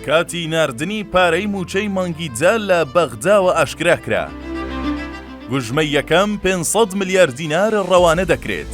کاتی ناردنی پارەی مووچەی مانگی جە لە بەغداوە ئاشکرا کرا. گوژمەی یەکەم پێ سەد ملیار دینار ڕەوانە دەکرێت.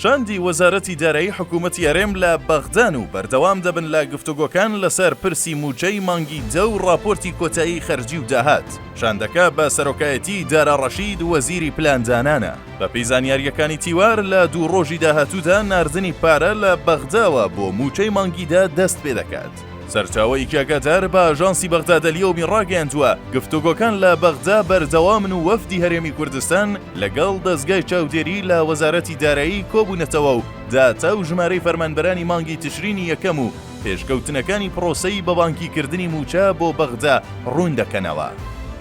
شاندی وەزارەتی دارایی حکوومەتی هەرێم لە بەغدان و بەردەوام دەبن لە گفتوگۆکان لەسەر پرسی مووچەی مانگی جە و ڕاپۆرتی کۆتایی خەرجی و داهات. شاندەکە بە سەرۆکایەتیی دارا ڕەشید وەزیری پلاندانانە. بەپێی زانیارییەکانی تیوار لە دوو ڕۆژی داهاتوودا ناردنی پارە لە بەغداوە بۆ مووچەی مانگیدا دەست پێ دەکات. سەرچاوەیەکی ئەگادار بە ئاژانسی بەغدادەلیەومی ڕاگەیاندووە گفتوگۆکان لە بەغدا بەردەوامن و وەفدی هەرێمی کوردستان لەگەڵ دەزگای چاودێری لە وەزارەتی دارایی کۆبوونەتەوە و داتا و ژمارەی فەرمانبەرانی مانگی تشرینی یەکەم و پێشکەوتنەکانی پڕۆسەی بە بانکی کردنی مووچە بۆ بەغدا ڕوون دەکەنەوە.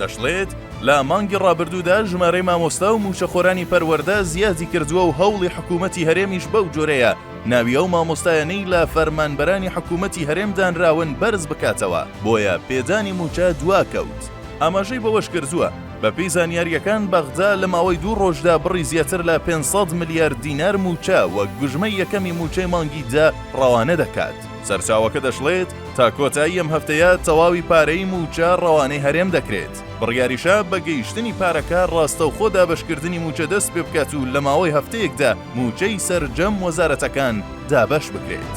دەشڵێت، لە مانگی ڕابردوودا ژمارەی مامۆستا و مووچەخۆرانی پەروەردە زیادی کردووە و هەوڵی حکوومەتی هەرێمیش بەو جۆرەیە ناوی ئەو مامۆستایانەی لە فەرمانبەرانی حکوومەتی هەرێم دانراون بەرز بکاتەوە، بۆیە پێدانی مووچە دواکەوت. ئاماژەی بەوەشکردووە، بەپێی زانیارییەکان، بەغدا لە ماوەی دوو ڕۆژدا بڕی زیاتر لە پێنج سەد ملیار دینار مووچە وەک گوژمەی یەکەمی مووچەی مانگی دە ڕەوانە دەکات. سەرچاوەکە دەشڵێت، تا کۆتایی ئەم هەفتەیە تەواوی پارەی مووچە ڕەوانەی هەرێم دەکرێت، بڕیاریشە بە گەیشتنی پارەکە ڕاستەوخۆ دابەشکردنی مووچە دەست پێ بکات و لە ماوەی هەفتەیەکدا مووچەی سەرجەم وەزارەتەکان دابەش بکرێت.